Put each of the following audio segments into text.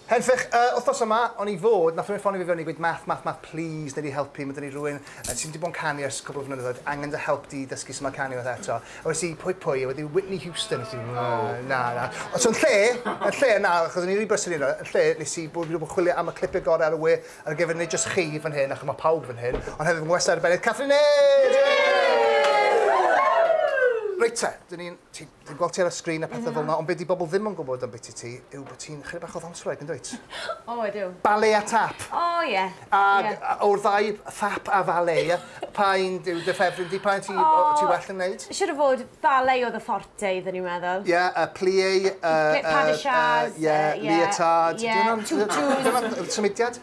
Henffych, yy, wthnos yma, o'n i fod, nath rywun ffonio fi fewn i gweud Math, Math, Math, please, nei di helpu, ma' da ni rywun yy sy' di bod yn canu ers cwpl o flynyddoedd, angen dy help di i dysgu su' ma' canu fatha eto. A wes i, pwy, pwy? A wedyn Whitney Houston, nes i, na, na, na. Ond so yn lle, yn lle, na, achos o'n i'n rili brysur yn lle, nes i bod, fi di bod yn chwilio am y clipie gore ar y we ar gyfer nid jyst chi fan hyn, achos ma' pawb fan hyn, ond hefyd fy ngwestai arbennig, Catherine Hayes! Yay! Reit te, dyn ni'n, ti, Dwi'n gweld ti ar y sgrin a pethau fel yna, ond be di bobl ddim yn gwybod am biti ti yw bod ti'n chydig bach o ddanswraig, yn dwyt? o, ydw. Ballet a tap. O, oh, ie. Yeah. A, yeah. a o'r ddau, tap a ballet, pa un yw dy ffefryn di, pa un ti, oh, ti well yn neud? Siwr o fod, ballet oedd y fforte iddyn ni'n meddwl. Ie, yeah, uh, plie, uh, uh, uh, yeah, yeah, leotard. Yeah, tutus. Dyna'r symudiad.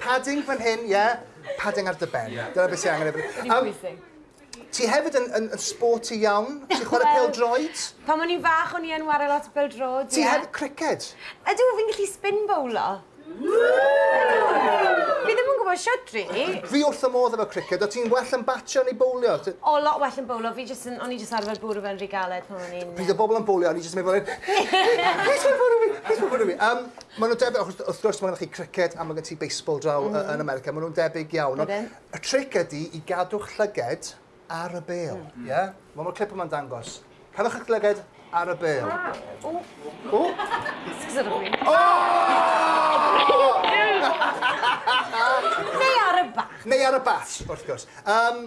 Padding fan hyn, ie? Padding ar dy ben. Ie. Dyna beth sy angen efo ni. Rili pwysig. Yym, ti hefyd yn, yn, yn sporty iawn. Ti'n chwarae Wel, pêl-droed? Pan o'n i'n fach o'n i yn ware lot o bêl-droed, ie. Ti hefyd criced? Ydw, fi'n gallu spin bowlo. Fi ddim yn gwybod shwt, rili. Fi wrth fy modd efo criced. O't ti'n well yn batio neu bowlio? T- O, lot well yn bowlo. Fi jyst yn... O'n i jyst arfer bwrw fe'n rhy galed pan o'n i'n... Pryd o bobl yn bowlio, o'n i jyst yn mynd fel hyn. Plis paid bwrw fi! Plis paid bwrw fi! Yym... Maen nhw'n debyg, achos wrth gwrs mae gennych chi criced a mae gen ti baseball draw mm. yn America, maen nhw'n debyg iawn. Ydyn. Y tric ydy i gadw'ch llyged ar y bel. Mm. Yeah? Mae mor clip yma'n dangos. Cadwch eich llyged ar y bel. O! O! O! Neu ar y bat. Neu ar y bat, wrth gwrs. Um,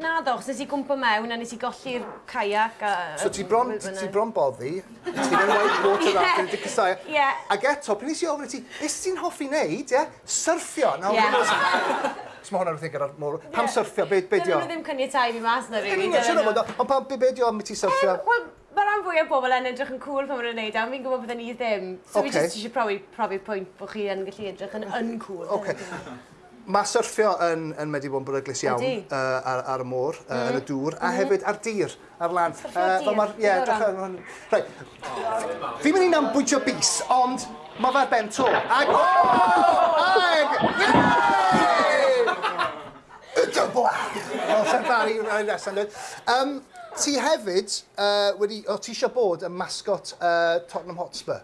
Naddo, achos nes i gwmpo mewn a nes i golli'r kayak a... So ti bron, ti bron boddi, ti mewn white water rafting, wedi casáu... Ie. Ac eto, pryd nes i ofyn i ti, be sy ti'n hoffi neud, ie? Syrffio! Nawr, dwi'n meddwl sa... Os ma hwnna'n rhywbeth i gyda'r môr... Pam syrffio, be, be dio? Dyw e ddim yn caniatáu fi mas na rili, dyw e ddim. Ond pam, be, be dio ambiti syrffio? Yym, wel, ma ran fwya o bobl yn edrych yn cŵl pan ma nhw'n neud e, ond fi'n gwbo bydden i ddim. So fi jyst isie profi, profi'r pwynt bo chi yn gallu edrych yn uncŵl. Oce. Mae syrffio yn yn wedi bod yn beryglus iawn... Ydi. ...yy ar ar y môr yy... M-hm. ...yn y dŵr a hefyd ar dir ar lan. Syrffio ar dir? Yy wel ma'r ie dechre efo hwn. Reit. Fi'n myn' i nambwydio bys ond ma' fe ar ben to ag o! Ag yy y blaen! Fel Sir Fari yn Ynys Enlli yndoedd? Yym ti hefyd yy wedi o ti isio bod yn mascot yy Tottenham Hotspur?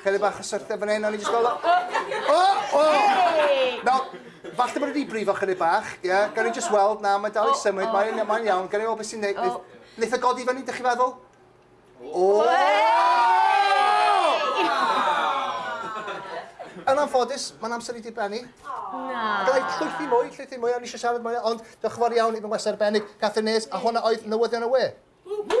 Chydig bach o syrthio fan hyn, o'n i jyst fel... O! O! Nawr, falle bod e wedi brifo chydig bach, ie? Yeah? Gawn ni jyst weld, na, mae'n dal i symud, mae'n ma iawn, gawn ni weld beth sy'n neud... Oh. Neith o e godi fyny, dych chi feddwl? O! Yn anffodus, mae'n amser i di benni. Na. Gallai llwythi mwy, llwythi mwy, o'n i eisiau siarad mwy, ond diolch yn fawr iawn i fy ngwestiwn arbennig, Catherine Nays, a hwnna oedd newyddion y we. Woo!